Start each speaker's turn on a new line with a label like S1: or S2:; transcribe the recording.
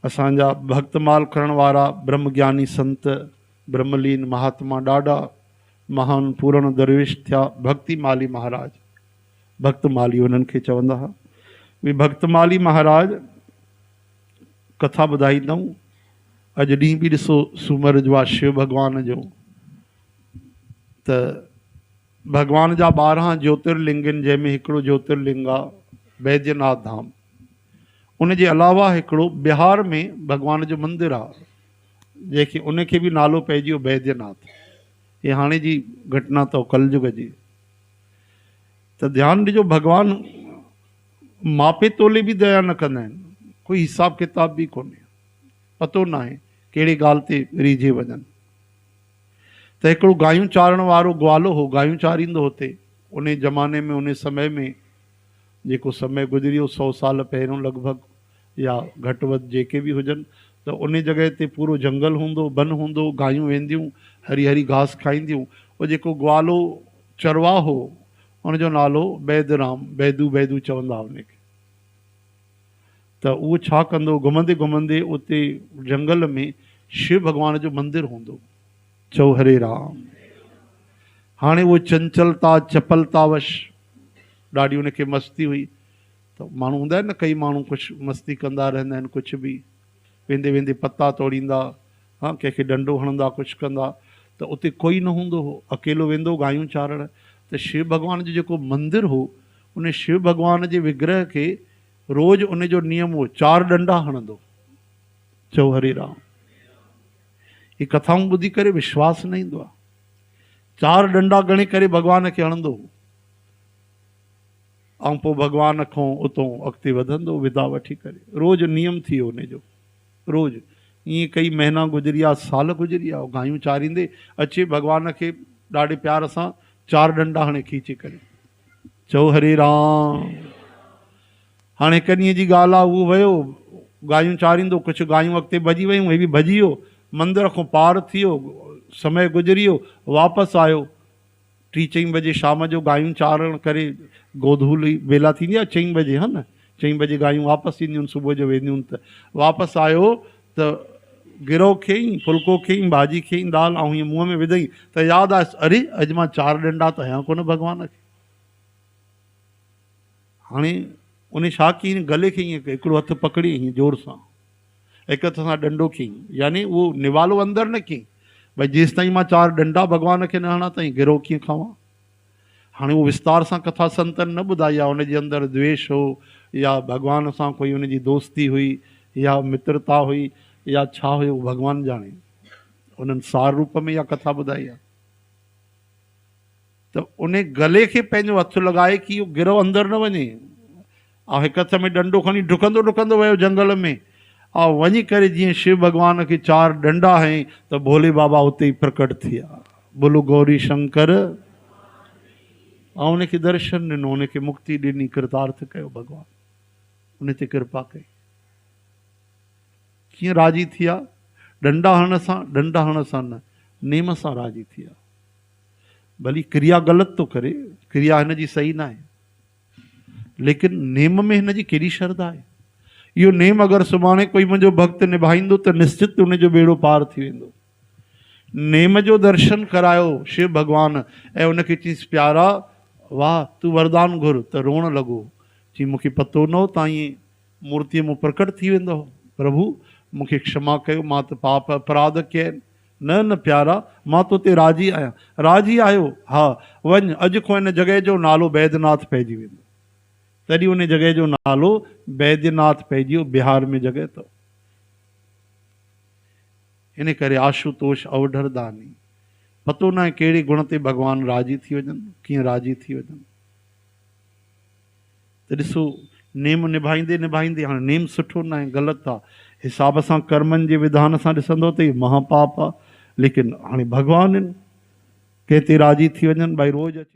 S1: اسان جا ڀڳت مال ڪرڻ وارا برهم گياني سنت، برهم لين مهاتما ڏاڏا، مهان پورڻ درويش ٿيا ڀڳتي مالي مهاراج، ڀڳت مالي انهن کي چوندا ها. اهي ڀڳت مالي مهاراج ڪٿا ٻڌائيندؤن. اڄ ڏينهن به ڏسو سومر جو آهي شو ڀڳوان جو ته ڀڳوان جا ٻارهن جوترلنگن جنهن ۾ هڪڙو جوترلنگ آهي بيديناٿ ڌام. ان جي علاوه هڪڙو بهار ۾ ڀڳوان جو مندر آ جنهن کي ان کي به نالو پئجي ويو بيديا ناٿ هي هاڻي جي گهٽنا اٿو ڪل جگ جي ته ڌيان ڏجو ڀڳوان ماپي تولي به ديا نه ڪندا آهن ڪوئي حساب ڪتاب به ڪونهي پتو ناهي ڪهڙي ڳالهه تي ريجهي وڃن ته هڪڙو گايون چارڻ وارو گوالو هو گايون چاريندو هتي ان زماني ۾ ان سمي ۾ جيڪو سمي گذريو سؤ سال پهريون لڳ ڀڳ يا گهٽ وڌ جيڪي به هجن ته ان جڳهه تي پورو جهنگل هوندو بن هوندو گايون وينديون هري هري گهاس کائينديون او جيڪو گوالو چرواهه هو ان جو نالو بيد رام بيدو بيدو چوندا ان کي ته اهو ڇا ڪندو گهمندي گهمندي اتي جهنگل ۾ شو ڀڳوان جو مندر هوندو. چؤ هري رام. هاڻي اهو چنچلتا، چپلتا وش، ڏاڍي ان کي مستي هئي ته ماڻهو هوندا آهن نه ڪئي ماڻهو ڪجهه مستي ڪندا رهندا آهن ڪجهه به ويندي ويندي پتا توڙيندا ها ڪنهن کي ڏنڊو هڻندا ڪجهه ڪندا ته اتي ڪوئي نه هوندو هو اڪيلو ويندو گايون چارڻ ته شو ڀڳوان جو جيڪو مندر هو ان شو ڀڳوان جي وگرهه کي روز ان جو نيم هو چار ڏنڊا هڻندو چؤ هري رام. هي ڪٿائون ٻڌي ڪري وشواس نه ايندو آهي. چار ڏنڊا ڳڻي ڪري ڀڳوان کي هڻندو هو ۽ پوء ڀڳوان کون اتون اڳتي وڌندو هو ودا وٺي ڪري. روز نيم ٿي ويو ان جو. روز ائين ڪئي مهينا گذريا، سال گذريا. هو گايون چاريندي اچي ڀڳوان کي ڏاڍي پيار سان چار ڏنڊا هڻي کيچي ڪري چئو هري رام. هاڻ هڪ ڏينهن جي ڳالهه آ، هو ويو گايون چاريندو، ڪڇ گايون اڳتي ڀڄي ويون، هي به ڀڄي ويو، مندر کان پار ٿي ويو، سمي گذري ويو، واپس آيو، ٽي چئين بجي شام جو گايون چارڻ ڪري گودهولي ويلا ٿيندي آ، چئين بجي ها نه، چئين بجي گايون واپس اينديون آهن، صبح جو وينديون آهن ته، واپس آيو ته گرهو کيئين، ڦلڪو کيئين، ڀاڄي کيئين، دال آئون هيئن منهن ۾ وڌئين ته ياد آيس، اري! اڄ مان چار ڏنڊا ته هنيا ڪونه ڀڳوان کي. هاڻي ان شاخ کي ائين گلي کي ائين هڪڙو هٿ پڪڙي ائين زور سان هڪ هٿ سان ڏنڊو کين يعني اهو نوالو اندر نه کين ڀاء جيستائين مان چار ڏنڊا ڀڳوان کي نه هڻان ته ائين گرو ڪيئن کاوان. هاڻي اهو وستار سان ڪٿا سنتن نه ٻڌائي آهي ان جي اندر دويش هو يا ڀڳوان سان ڪوئي ان جي دوستي هئي يا مترتا هئي يا ڇا هيو ڀڳوان ڄاڻي انهن سار روپ ۾ اها ڪٿا ٻڌائي آهي. ته انهي گلي کي پنهنجو هٿ لڳائي ڪي اهو گروهه اندر نه وڃي. آء هڪ هٿ ۾ ڏنڊو کڻي ڊڪندو ڊڪندو ويو جنگل ۾. آء وڃي ڪري جيئن شو ڀڳوان کي چار ڏنڊا هنئي ته ڀولي بابا اتي ئي پرڪٽ ٿي ويا. بولو گوري شنڪر. آء انهي کي درشن ڏنو، انهي کي مڪتي ڏني، ڪرتارٿ ڪيو ڀڳوان. انهي تي ڪرپا ڪئي. ڪيئن راضي ٿي ويا؟ ڏنڊا هڻڻ سان، ڏنڊا هڻڻ سان نه، نيم سان راضي ٿي ويا. ڀلي ڪريا غلط ٿو ڪري، ڪريا هن جي صحيح ناهي، ليڪن نيم ۾ هن جي ڪهڙي شرڌا آهي؟ اهو نيم اگر سڀاڻي ڪوئي منهنجو ڀڳت نڀائيندو ته نشچت ان جو ٻيڙو پار ٿي ويندو. نيم جو درشن ڪرايو شو ڀڳوان ۽ ان کي چيس پيارا واهه تون وردان گهر ته روئڻ لڳو چي مون کي پتو نه هو ته ائين مورتيء مون پرڪٽ ٿي ويندو پرڀو مون کي کشما ڪيو مان ته پاپ اپراڌ ڪيا آهن نه نه پيارا، مان تو تي راضي آهيان. راضي آهيو؟ ها، وڃ، اڄ کان ان جڳهه جو نالو بيدناٿ پئجي ويندو. تڏهن ان جڳهه جو نالو بيدناٿ پئجي ويو. بهار ۾ جڳهه اٿئو. ان ڪري آشوتوش اوڍرداني، پتو ناهي ڪهڙي گڻ تي ڀڳوان راضي ٿي وڃن، ڪيئن راضي ٿي وڃن. ته ڏسو نيم نڀائيندي نڀائيندي هاڻي نيم سٺو ناهي غلط آ حساب سان ڪرمن جي وڌان سان ڏسندو ته هي مها پاپ آ ليڪن هاڻي ڀڳوان هن ڪنهن تي راضي ٿي وڃن ڀائي روز اچي